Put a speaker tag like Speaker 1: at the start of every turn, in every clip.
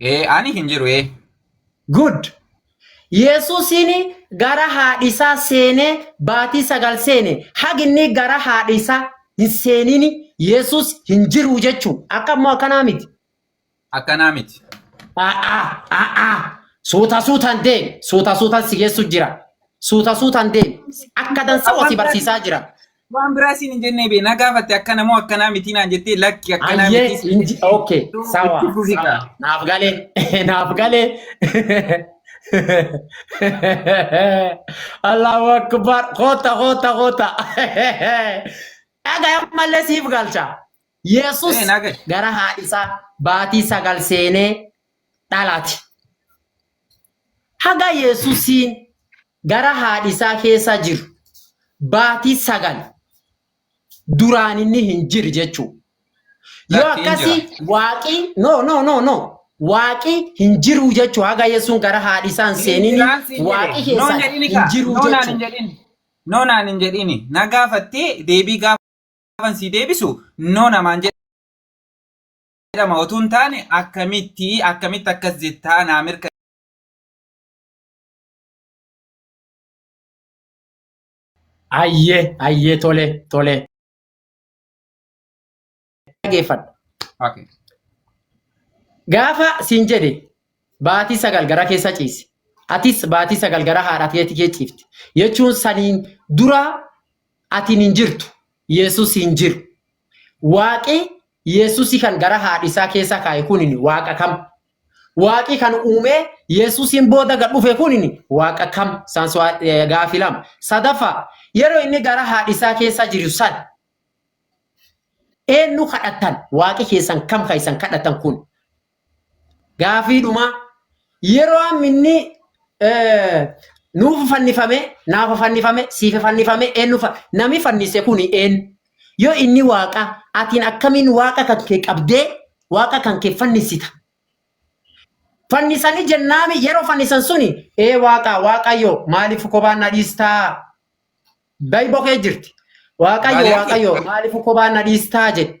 Speaker 1: Ee ani
Speaker 2: hin jiru ee. Good!
Speaker 1: Yesuusiin gara haadhi isaa seenee baatii sagal seene hagi inni gara haadhi isaa hin seeniin Yesuus hin jiru jechuu akka immoo akkanaa miti. Akkanaa
Speaker 2: miti. A'a a'a
Speaker 1: suuta suutan deemi suuta suutan si geessu jira suuta suutan deemi akka dansaa wasi barsiisaa jira. Waan biraa siin hin
Speaker 2: jennee bee na gaafatte akkana moo akkanaa mitii naan jettee lakki akkanaa Ayyee mitii siin inji jettee okay itti sawa fufi sawa
Speaker 1: kaa. naaf galee naaf galee Allahu akbar koota koota koota dhagaya malee siif galcha Yesus Ee naa gahe. gara haadhisaa baatii sagal seenee dhalaati. Haga Yesusiin gara haadhi isaa keessa jiru baatii sagal duraan inni hin jiru jechuudha. Yoo Lakki hin akkasii jira. waaqii no no no no waaqii hin jiru jechuu haga Yesuun gara haadhi isaa hin Hin seenini jiraan siin waaqii jedhe. Noon keessan jedhini hin kaa. jiru Noonaan hin jechuudha. jedhini. Noonaan hin
Speaker 2: jedhini. Na gaafattee deebii gaafan sii deebisu noo namaan jedhe. jedhama otuu hin taane akkamitti akkamitti akkas jettaa naa mirka
Speaker 1: Ayyee ayyee tole tole. Dhageeffadha.
Speaker 2: okay. Gaafa
Speaker 1: siin jedhe baatii sagal gara keessa ciise. Atis baatii sagal gara haadha keetii kee ciifte. Jechuun saniin dura atiin hin jirtu. Yesus hin jiru. Waaqi Yesusi kan gara haadhi isaa keessa kaa'e kunin waaqa kam? Waaqi kan uumee Yesusiin booda gad dhufe kunin waaqa kam? Isaan so- eh, gaafii lama. Sadaffaa yeroo inni gara haadhi isaa keessa jiru san eenyu kadhattan? Waaqi keessan kam kan isan kadhattan kun? Gaafii dhumaa yeroo amma inni nuuf fannifame naaf fannifame siif fannifame eenyu fa nami fannise kun eenyu yoo inni waaqa atiin akkamiin waaqa kan kee qabdee waaqa kan kee fannisita fannisanii jennaami yeroo fannisan suni ee waaqa waaqayyo maaliif kophaan na dhiistaa bayi bokee jirti waaqayyo Maaliif? waaqayyo maaliif kophaan na dhiistaa jedhe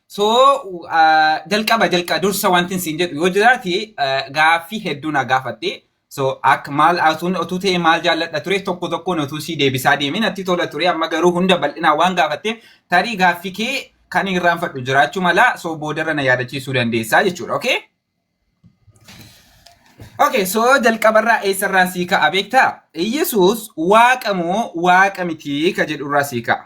Speaker 2: So jalqaba jalqaba dursa wanti siin jedhu yoo jiraate gaaffii hedduu na gaafatte. So akka maal atuun otuu ta'e maal jaalladha ture tokko tokkoon otuu sii deebisaa deemee natti tola ture amma garuu hunda bal'inaan waan gaafatteef tarii gaaffii kee kan irraanfadhu jiraachuu mala so boodarra na yaadachiisuu dandeessaa jechuudha okay. Okay, so jalqabarraa eessarraan sii ka'a beektaa? Iyyasuus waaqa moo waaqa mitii ka jedhurraa sii ka'a.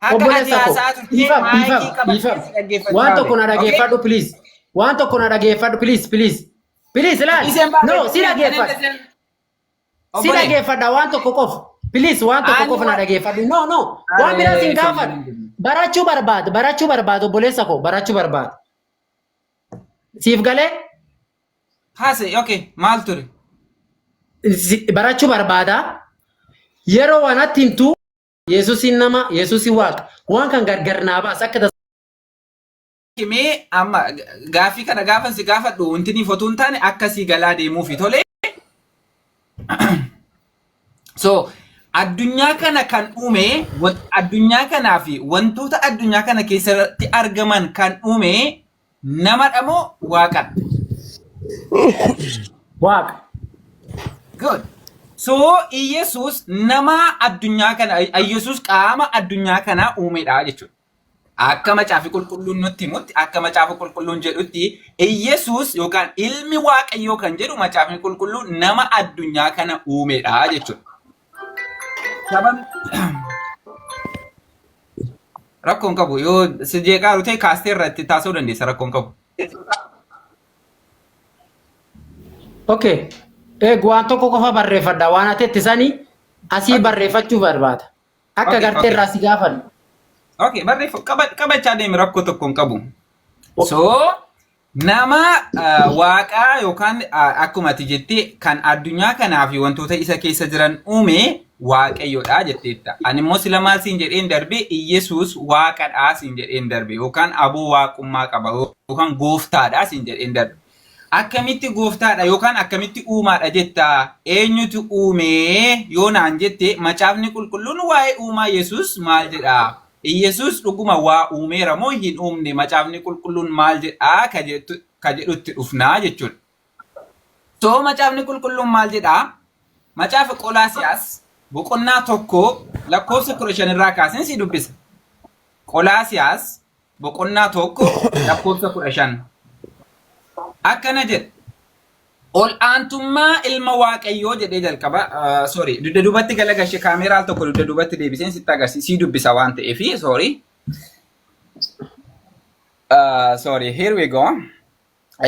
Speaker 2: Akka ati Obboleessa koo, haasaa turte dhiifama, maayikii dhiifama, qabattee si dhiifama. dhaggeeffachaa Waan tokko na ture. Okay?
Speaker 1: dhageeffadhu, please. Waan tokko na dhageeffadhu, please, please. Please, laal. Iseen No, baatee si iseen dhageeffadha. iseen Si obbolee dhageeffadha waan tokko qofa. Please, waan tokko ani qofa na waan dhageeffadhu. No, no. Waan biraa aree sin kan gaafadhu. hin jirre. Barachuu barbaada, barachuu barbaada, obboleessa koo, barachuu barbaada. Siif galee?
Speaker 2: haase okay maal ture? Si-
Speaker 1: barachuu barbaada. Yeroo waan atti himtu Yesuusiin nama, Yesuusi Waaqa. Waan kan gargar naa baas akka tas.
Speaker 2: Mee amma gaaffii kana gaafan si gaafadhu wanti ni fotuu hin taane akkasii galaa deemuufi tole. So addunyaa kana kan uume wa- addunyaa kanaa fi wantoota addunyaa kana keessatti argaman kan uume Namadha moo waaqadha? Waaqa. Good. So Iyyasuus nama addunyaa kana Iyyasuus qaama addunyaa kanaa uumedha jechuudha. Akka macaafi qulqulluun nutti himutti akka macaafi qulqulluun jedhutti Iyyasuus yookaan ilmi waaqayyoo kan jedhu macaafni qulqulluun nama addunyaa kana uumedha jechuudha. Saban rakkoo hin qabu yoo si jeeqaa rutee kaastee irraa itti taasisuu dandeessa rakkoo hin qabu.
Speaker 1: Okay. Eeg waan tokko qofa barreeffadha. Waan ati itti sanii asii barreeffachuu barbaada. Akka Okay, gartee okay. irraa si gaafadhu. Okay barreeffa
Speaker 2: qaba qabachaa deemi rakkoo tokko hin qabu. So Nama waaqaa yookaan akkuma ati jette kan addunyaa kanaa fi wantoota isa keessa jiran uume waaqayyodha jetteetta. Ani immoo sila maal siin jedheen darbe Iyyasuus waaqadha siin jedheen darbe yookaan aboo waaqummaa qaba yookaan gooftaadha siin jedheen darbe. Akkamitti gooftaadha yookaan akkamitti uumaadha jetta eenyutu uumee yoo naan jette macaafni qulqulluun waa'ee uumaa Yesuus maal jedha? Iyyesuus dhuguma waa uumeera moo hin uumne macaafni qulqulluun maal jedhaa ka jettu ka jedhutti dhufnaa jechuudha. So macaafni qulqulluun maal jedhaa macaafa Qolaasiyaas boqonnaa tokko lakkoofsa kudha shan irraa kaaseen si dubbisa. Qolaasiyaas boqonnaa tokko lakkoofsa kudha shan akkana jedha. Ol aantummaa ilma waaqayyoo jedhee jalqaba sorry dugda duubatti galagashe kaameeraa al tokko dugda duubatti deebiseen sitti agarsiisa sii dubbisa waan ta'eef sorry uh, sorry here we go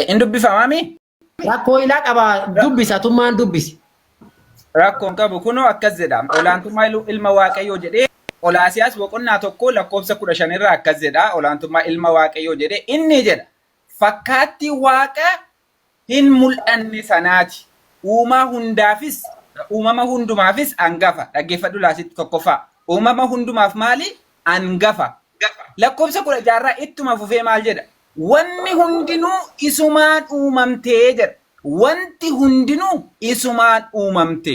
Speaker 2: in dubbifamaa mi Rakkoo ilaa
Speaker 1: qaba dubbisa tummaan dubbisi. rakkoon
Speaker 2: qabu kunoo akkas jedha olaantummaa ilu- ilma waaqayyoo jedhee olaasiyaas boqonnaa tokko lakkoofsa kudha shan irraa akkas jedha olaantummaa ilma waaqayyoo jedhee inni jedha fakkaattii waaqa hin mul'anne sanaati. Uumaa hundaafis, uumama hundumaafis angafa. Dhaggeeffadhu laasitti tokkoffaa. Uumama hundumaaf maali? Angafa. Lakkoofsa 16 irraa ittuma fufee maal jedha? Wanni hundinuu isumaan uumamte jedha. Wanti hundinuu isumaan uumamte.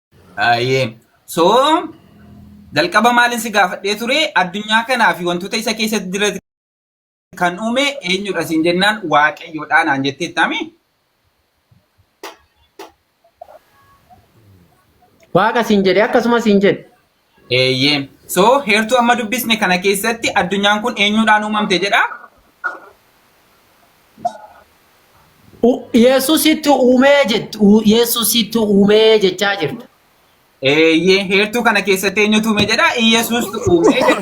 Speaker 2: Ayyee. So jalqaba maalin si gaafadhee ture addunyaa kanaa fi wantoota isa keessatti jira kan uume eenyudha siin jennaan waaqayyoodha naan jettee taami.
Speaker 1: Waaqa siin jedhe akkasuma siin jedhe. Eeyyee.
Speaker 2: So heertuu amma dubbisne kana keessatti addunyaan kun eenyuudhaan uumamte jedha?
Speaker 1: U- Yesusitti uumee jett- u- Yesusitti uumee jechaa jirta. Eeyyee
Speaker 2: heertuu kana keessatti eenyutu uume jedha? Iyyasuustu uume jedha.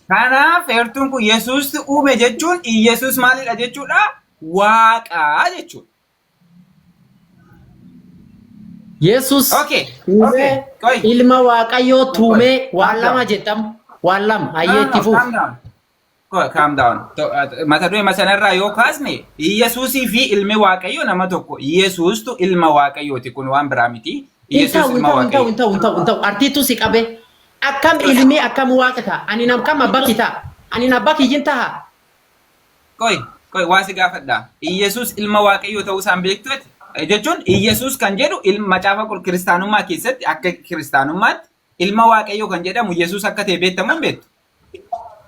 Speaker 2: Kanaaf heertuun kun Yesuustu uume jechuun Iyyasuus maalidha jechuudha? Waaqa jechuudha.
Speaker 1: Yesus Okay, tuumee okay, qoy. ilma waaqayyoo tuumee waan lama jettam waan lama ayyee itti fuuf. Calm down. Qoy,
Speaker 2: calm down. To- at- Mata duree masanarraa yoo kaasne Yesuusii fi ilmi waaqayyo nama tokko. Yesuustu ilma waaqayyooti kun waan biraa miti. Hin Yesuus ta'u hin ilma ta'u hin ta'u waaqayyo. hin ta'u hin ta'u hin ta'u artiitu si
Speaker 1: qabe akkam ilmi akkam waaqa ta'a ani nam kam abba kee ta'a ani abba kiyyin ta'a Qoy,
Speaker 2: qoy waa si gaafadha. Iyyasuus ilma Waaqayyoo ta'uu isaan beektu ati? Jechuun Iyyasuus kan jedhu ilma macaafa qul- kiristaanummaa keessatti akka kiristaanummaatti ilma Waaqayyoo kan jedhamu Iyyasuus akka ta'e beektamu hin beektu.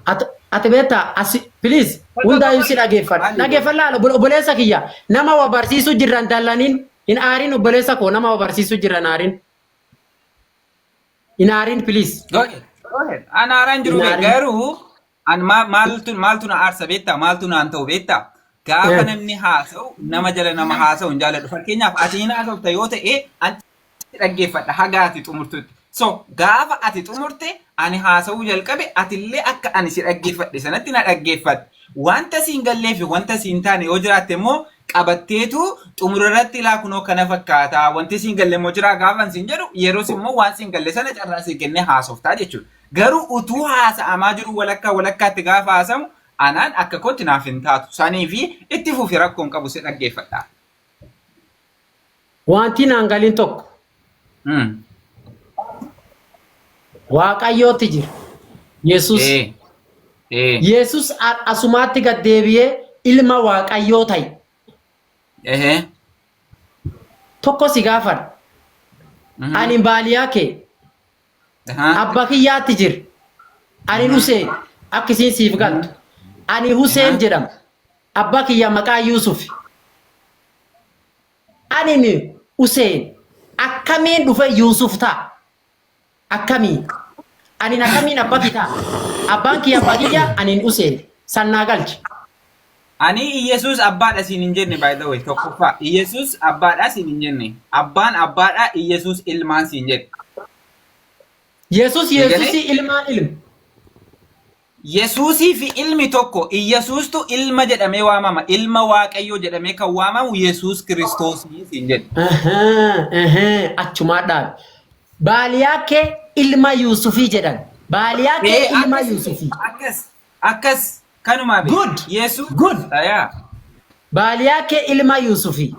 Speaker 1: At- Ati beektaa asi please hundaayyuu si dhageeffadha. Dhageeffadha laala obbole- obboleessa kiyya nama wa barsiisuu jirra hin dallaniin hin aarin obboleessa koo nama wa barsiisuu jirra hin aarin. Hin aarin please. Go
Speaker 2: ahead, go ahead. Anaaraan jiru Hin aarin. garuu An maa- maaltu maaltu na aarsa beektaa? Maaltu naan ta'u beektaa? Gaafa Eh. namni haasa'u nama jala nama haasa'u hin jaalladhu. Fakkeenyaaf ati hin haasofta yoo ta'e an si dhaggeeffadha haga ati xumurtutti. So gaafa ati xumurte ani haasa'uu jalqabe atillee akka ani si dhaggeeffadhe sanatti na dhaggeeffatte. Wanta siin gallee fi wanta siin taane yoo jiraatte immoo qabatteetu xumura irratti ilaa kunoo kana fakkaata. Wanti siin galle immoo jiraa gaafa siin jedhu yeroos immoo waan siin galle sana carraa sii kennee haasoftaa jechuudha. Garuu utuu haasa'amaa jiruu walakkaa walakkaatti gaafa haasamu anaan akka kootti naaf hin taatu. Saniifi itti fufi rakkoo hin qabu si dhaggeeffadha.
Speaker 1: Wanti naan galiin tokko Mm. Waaqayyootti jira. Yesus. Eh. Eh. Yesus a- asumaatti gad deebi'ee ilma Waaqayyoo ta'e. Ehe. Tokko si gaafadha. Mhm. Ani baaliyaa kee Ahaa. Abba kiyyaatti jir. Ani Ahaa. Huseen akka isiin siif galtu. Ani Huseen Ahaa. jedhama. Abba kiyya maqaa Yuusuf. Ani ni Huseen akkamiin dhufe Yuusuf ta'a? Akkamiin? Ani akkamiin abba kiyya ta'a? Abbaan kiyya abba kiyya ani Huseen sannaa galchi. Ani
Speaker 2: Iyyasuus abbaadha siin hin jenne by the way tokkoffaa Iyyasuus abbaadha siin hin jenne abbaan abbaadha Iyyasuus ilmaan siin jedhe. Yesus Eegalee?
Speaker 1: Yesusi ilmaa ilm. Yesuusii
Speaker 2: fi ilmi tokko Iyyasuustu ilma jedhamee waamama ilma waaqayyoo jedhamee kan waamamu Yesuus kiristoosii siin jedhe. Ahaa, ahaa, achumaa dhaabe.
Speaker 1: Baaliyaa kee ilma Yuusufii jedhan. Baaliyaa kee Ee, ilma akkas Yuusufii. akkas Akkas
Speaker 2: kanumaa bee. Good! Yeesuus Good!
Speaker 1: tayaa. Baaliyaa kee ilma Yuusufii.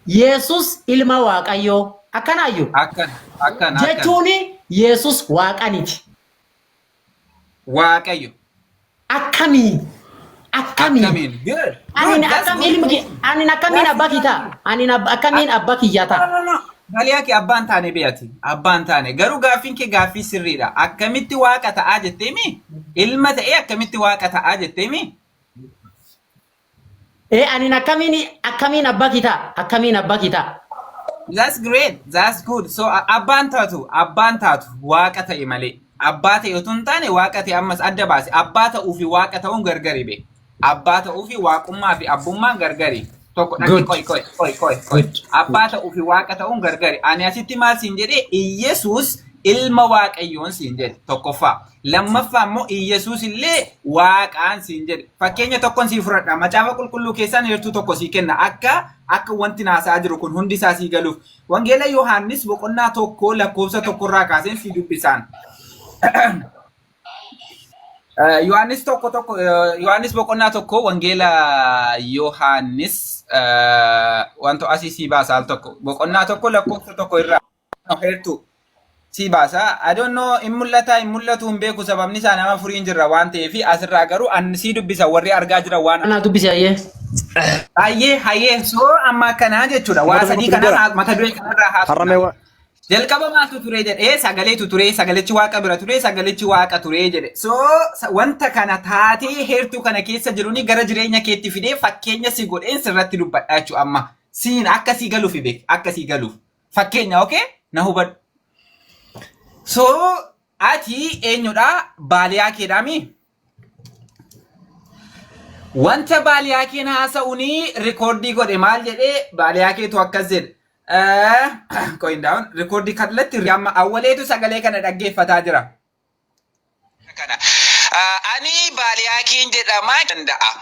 Speaker 1: Yeesuus ilma Waaqayyoo. Akkanaayyu? Akkan akkan akkan.
Speaker 2: Jechuuni
Speaker 1: Yeesuus Waaqaniti.
Speaker 2: Waaqayyo. Akkamii?
Speaker 1: Akkamii?
Speaker 2: Akkamiin. Good. Good. Anin That's akkam good.
Speaker 1: ilmi kee anin akkamiin abba kee ta'a? Anin abba akkamiin abba kiyya No, ta'a? no, no. Baliyaa kee abbaan
Speaker 2: taane bee ati abbaan taane garuu gaaffiin kee gaaffii sirriidha akkamitti waaqa ta'aa jetteemi ilma ta'ee akkamitti waaqa ta'aa jetteemi
Speaker 1: Ee anin akkamiin akkamiin abbaa kitaa akkamiin abbaa kitaa. that's great
Speaker 2: that's good so a- abbaan taatu abbaan taatu waaqa ta'e malee abbaa ta'e utuu hin taane waaqa ta'e ammas adda baase abbaa ta'uu fi waaqa ta'uun gargari bee Abbaa ta'uu fi waaqummaa fi abbummaan gargari. Tokko dhaqni Good. qoy qoy qoy qoy qoy. Good. Abbaa Good. ta'uu fi waaqa ta'uun gargari. Ani asitti maal siin jedhee Iyyesuus ilma waaqayyoon siin jedhe tokkoffaa. Lammaffaa immoo Iyyesuus illee waaqaan siin jedhe. Fakkeenya tokkon sii fudhadha. Macaafa qulqulluu keessaan heertuu tokko sii kenna. Akka akka wanti naasaa jiru kun hundi isaa sii galuuf. Wangeela Yohaannis boqonnaa tokko lakkoofsa tokkorraa kaaseen sii dubbisaan. Eh, Yohaannis tokko tokko eh, Yohaannis boqonnaa tokko wangeela Yohaannis eh, wanto asii sii baasa al tokko boqonnaa tokko lakkoofsa tokko irraa no, heertuu sii baasa. I don't know in mul'ataa in mul'atuu hin beeku sababni isaa nama furiin jirra waan ta'eef asirraa garuu an sii dubbisa warri argaa jira waan Anaa dubbisi ayyee.
Speaker 1: Hayyee hayyee
Speaker 2: soo amma akkanaa jechuudha waa Mata sadii dubbisa kana jira. haa- mata duree kanarraa Harramee haasofna. wa- Jalqaba maaltu ture jedhee sagaleetu ture, sagalichi waaqa bira ture, sagalichi waaqa ture jedhe. So sa- wanta kana taatee heertuu kana keessa jiruni gara jireenya keetti fidee fakkeenya si godheen sirratti dubbadha jechuudha amma. Siin akka sii galuuf beek, akka sii galuuf. Fakkeenya okay? Na hubadhu. So ati eenyudha? Baaliyaa keedhaami? Wanta baaliyaakeen haasa'uun rikoordii godhe maal jedhee baaliyaakeetu akkas jedhe. Qoyin daawwan rikoordii kallattii amma awwaleetu sagalee kana dhaggeeffataa jira. Ani baaliyaakeen jedhamaa danda'a.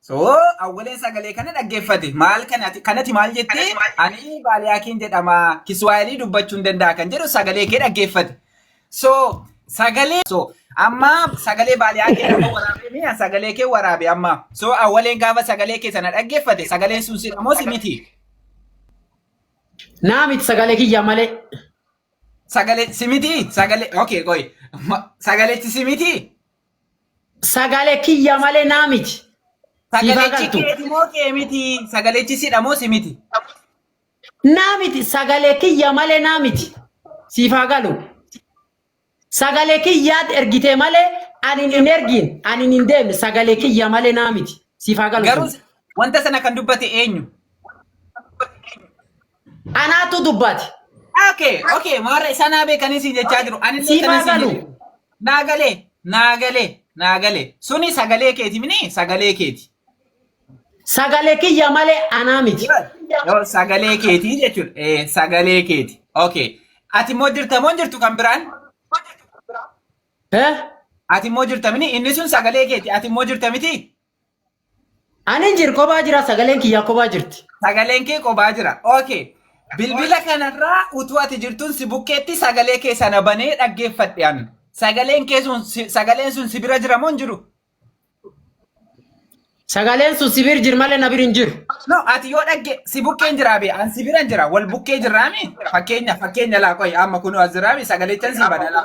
Speaker 2: So awwaleen sagalee kana dhaggeeffate maal kanati kanati maal jette ani baaliyaakiin jedhama kiswaayilii dubbachuu hin danda'a kan jedhu sagalee kee dhaggeeffate. So sagalee so amma sagalee baaliyaakii nama waraabee mi'a sagalee kee waraabe amma so awwaleen gaafa sagalee kee sana dhaggeeffate sagaleen sun si dhamoo si miti
Speaker 1: Naa miti sagalee kiyya malee.
Speaker 2: sagalee si miti sagalee okay qoy Ma- sagaleetti si miti
Speaker 1: Sagale kiyya malee naa miti. Siifaa Sagalechi
Speaker 2: galtu. keeti moo kee miti? Sagalechi sidha moo si miti?
Speaker 1: Naa miti sagale kiyya malee naa miti. Siifaa galu. Sagale kiyyaat ergitee malee ani hin ergiin ani hin deemne sagale kiyya malee naa miti. Siifaa galu. Garuu wanta sana
Speaker 2: kan dubbate eenyu?
Speaker 1: Anaatu dubbaati. Okay, okay,
Speaker 2: maarra isa naa beekanii siin jechaa jiru. Ani illee Siif kanan haa siin galu. jedhu. Naa galee, naa galee, naa galee. Suni sagalee keeti mini sagalee keeti.
Speaker 1: Sagalee kiyya malee anaa miti. Yoo
Speaker 2: sagalee keeti jechuudha.
Speaker 1: Eh,
Speaker 2: sagalee keeti.
Speaker 1: Okay.
Speaker 2: Ati immoo jirta moo hin jirtu kan biraan? Eh? Ati immoo jirta mini inni sun sagalee keeti. Ati immoo jirta miti?
Speaker 1: Ani hin jiru kophaa jira sagaleen kiyyaa kophaa jirti. Sagaleen kee kophaa
Speaker 2: jira. Okay. Bilbila kanarraa utuu ati jirtuun si bukkeetti sagalee kee sana banee dhaggeeffadhe an. Sagaleen kee sun si- sagaleen sun si bira jira moo hin jiru?
Speaker 1: Sagaleen sun si bira jira malee na bira hin jiru. No, ati yoo dhagge
Speaker 2: si bukkeen jiraa bee an si biran jira wal bukkee jirraami fakkeenya fakkeenya laa qoy amma kunoo as jiraabi sagalechan si bana laa.